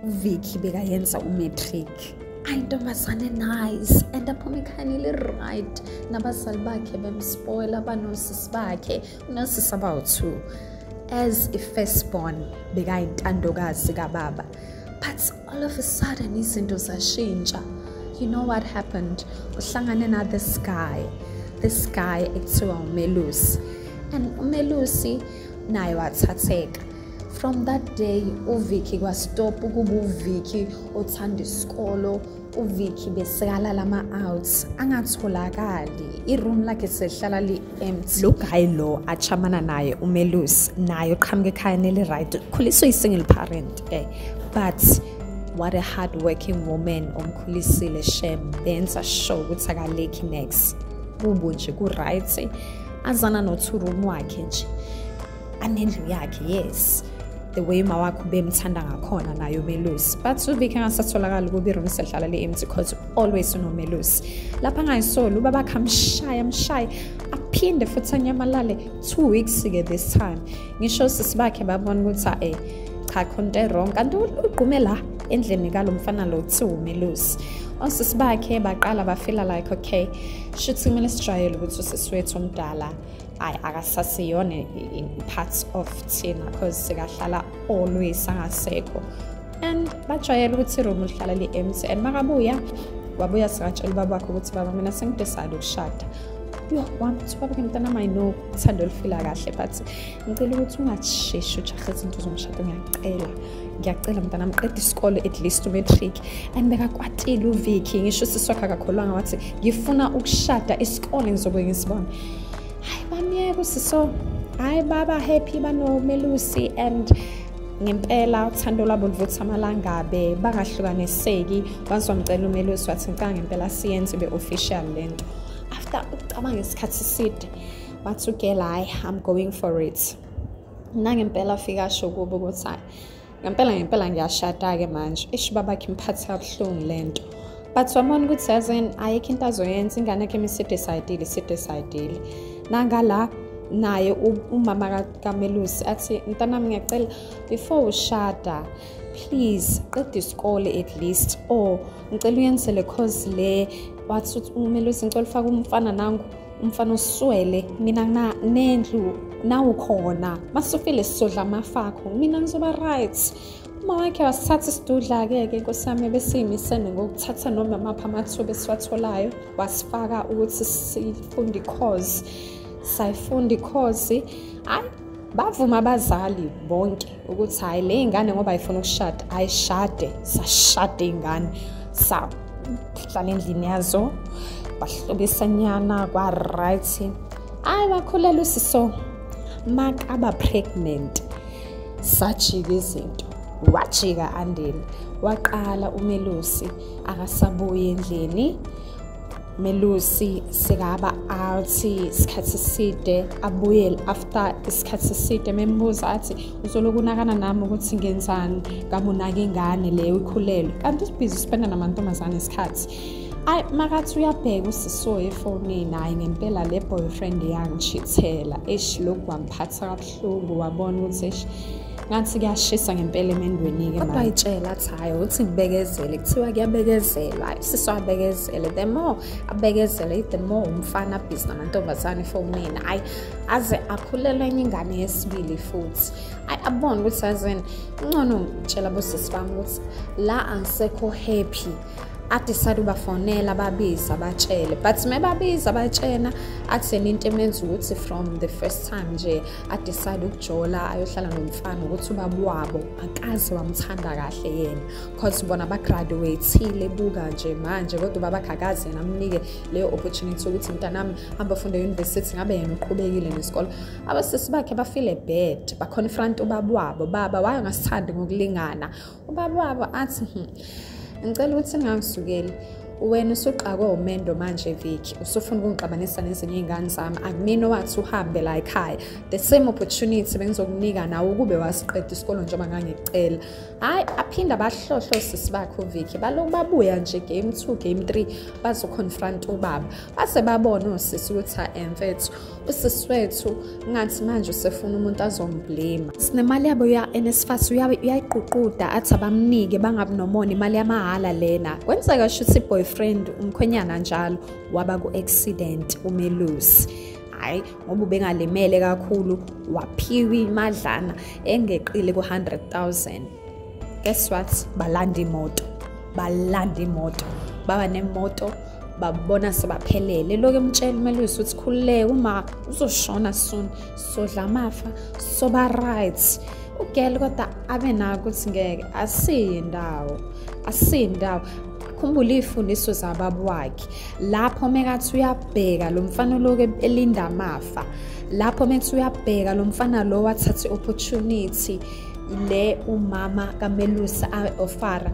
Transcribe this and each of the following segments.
uvicky bekayenza umatric ayintombazane nice and aphuma ekhani li-right nabazali bakhe bemspoila banosisi bakhe unosisi abawu-two as i-first born bekayintandokazi kababa but all of a sudden izinto zashintsha you know what happened uhlangane na this guy this guy ekuthiwa umelusi and umelusi naye wathatheka from that day uvicky kwastop ukuba uvicky othanda isikolo uvicky besikala lama-outs angatholakali iroom lakhe sehlala li-empty lo guy lo achamana naye umelus naye uqhamuka ekhayeni eli-right ukhuliswe i-single parent eh but what a hard working woman omkhulisile shem benza sure ukuthi akalekhi next kubo nje ku-right azana nothurumi wakhe nje anendlu yakhe yes the way uma wakho bemthanda ngakhona nayo umelusi but uvike angasatholakali ukuba iroom sehlala le-empty cause always unomelusi lapha angayisoli ubaba khamshaya mshaye aphinde futhi anyamalale two weeks-ke this time ngisho sisi bakhe babona ukuthi a-e cha khonto erong kanti ugqume la endlini kalo mfana lo kuthiwa umelusi osisi bakhe baqala bafila like okay shuthi kumele sijwayele ukuthi usisi wethu omdala hayi akasasiyona i-parts of thina because sikahlala always angasekho and bajwayele ukuthi iroom lihlala li-empty and makabuya wabuya singatshela ubaba wakhe ukuthi baba mina sengidesayide ukushada yho wami ukuthi ubaba ke mntana mayi no uthando olufila kahle but ngicela ukuthi ungasheshi ujahe izinto zomshado ngiyacela ngiyacela mntana mqeda isikole at least umatric and bekakwatile uviki ngisho usisi wakhe akakholwanga wathi ngifuna ukushada isikole ngizobe ngisibona hayi bamyeka usiso hayi baba happy banomelusi and ngempela uthando lwabo livutha amalangabe bangahlukaniseki once wamcela umelusi wathi ngicanga ngempela siyenze be-official le nto after ukucabanga isikhathi eside wathi ugela hayi i'm going for it nangempela afike asho kubo ukuthi hayi ngempela ngempela ngiyashada-ke manje ishi babakhe imphathi kabuhlungu le nto but wabona ukuthi yazini ayikho into azoyenza ingane yakhe imisidesayidile isidesayidile nangala naye umama kamelusi athi mntanami ngiyacela before ushada please qeda isikole at least or ngicela uyenzele cause le wathi umelusi ngicela ufake umfana nangu umfana uswele mina na nendlu nawukhona masufile sizodla amafakho mina ngizoba right uma wakhe wasithatha isidudla-ke ke nkosi yami ebesiyimisene ngokuthatha noma maphi amathuba esiwatholayo wasifaka ukuthi sifunde ikhozi sayifunda ikhozi hhayi bavuma abazali bonke ukuthi hhayi le ingane ngoba ayifuna ukushada ayishade sashade ingane sahlala endlini yazo bahlobisanyana kwa-right hhayi bakhulelwa usiso makaba pregnant sajika izinto wajika andile waqala umelusi akasabuyi endlini melusi sekaba athi isikhathi side abuyele after isikhathi side membuza athi uzoloku unakana nami ukuthi ngenzani ngabe unake ingane leyo ikhulelwe kanti usibhizi uspenda namantombazane isikhathi ayi makathi uyabheka usisoye efonini hhayi ngempela le boyfriend yangichithela eshi lokhu kwamphatha kabuhlungu Hlubu wabona ukuthi eish ngathi kuyashisa ngempela emendweni-ke kodwa ayitshela athi hhayi ukuthi ngibekezele kuthiwa kuyabekezelwa sisi wabekezele the more abekezele the more umfana abhizi namantombazane efonini ayi aze akhulelwe enye ingane yesibili futhi ayi abone ukuthi azini uncono ngitshela bosisi bami ukuthi la angisekho happy adecide ubafonela babiza batshele but mebabiza batshena akutheni into emenza ukuthi from the first time nje adecide ukujola ayohlala nomfana ukuthi ubaba wabo akaze wamthanda kahle yena cause bona bagraduatile buka nje manje kodwa ubaba akakaze yena amnike leyo opportunity yokuthi mntanami hamba funde e-university ngabe yena uqhubekile nesikole abasisi bakhe bafile bad baconfront ubaba wabo baba waye ngasithandi ngokulingana ubaba wabo athi hmm, ngicela ukuthi ningangizukeli wena usuqakwe umendo manje viki usufuna ukungixabanisa nezinye iy'ngane zami akumina owathi uhambe la ekhaya the same opportunity bengizokunika nawe ukube wasiqeda isikolo njengoba ngangikucela hhayi aphinde abahlohlo sisi bakhe uviki baloku babuya nje game two game three bazoconfront ubaba base babona osisi ukuthi emfethu usisi wethu ngathi manje usefuna umuntu azomblema sinemali yabo ya-nsfas uyayiququda athi abamnike bangabi nomona imali yamahhala lena kwenzeka shuthi i-boyfriend umkhwenyana njalo waba ku-accident umelusi hhayi ngoba ubengalimele kakhulu waphiwa imadlana engeqile ku-100 000 guess what balanda imoto balanda imoto baba nemoto babona sebaphelele lokho emtshela umelusi ukuthi khululeke uma uzoshona soon sodla amafa soba right ugel kodwa abe nako ukuthi ngeke asiyi ndawo asiyi ndawo khumbula izifundiso zababa wakhe lapho mekathi uyabheka lo mfana oloku elinda amafa lapho methi uyabheka lo mfana lo wathatha i-opportunity le umama kamelusi ofara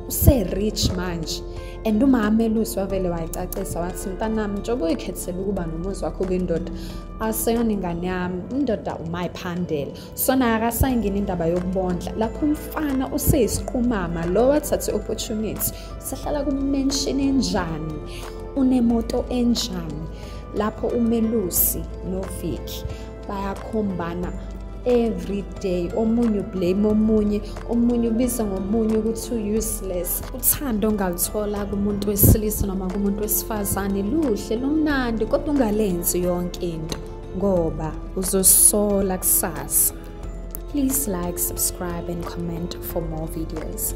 use-rich manje and umama melusi wavele wayicacisa wathi mntanami njengoba uyikhethela ukuba nomuzi wakho kwindoda aseyona ingane yami indoda umayiphandela sona akasayingeni indaba yokubondla lapho umfana useyisiqumama lo wathathe i-opportunity usehlala kumenshini enjani unemoto enjani lapho umelusi noviki bayakhombana every day omunye ublame omunye omunye ubiza ngomunye ukuthi u-useless uthando ongaluthola kumuntu wesilisa noma kumuntu wesifazane luhle lumnandi kodwa ungalenzi yonke into ngoba uzosola kusasa please like subscribe and comment for more videos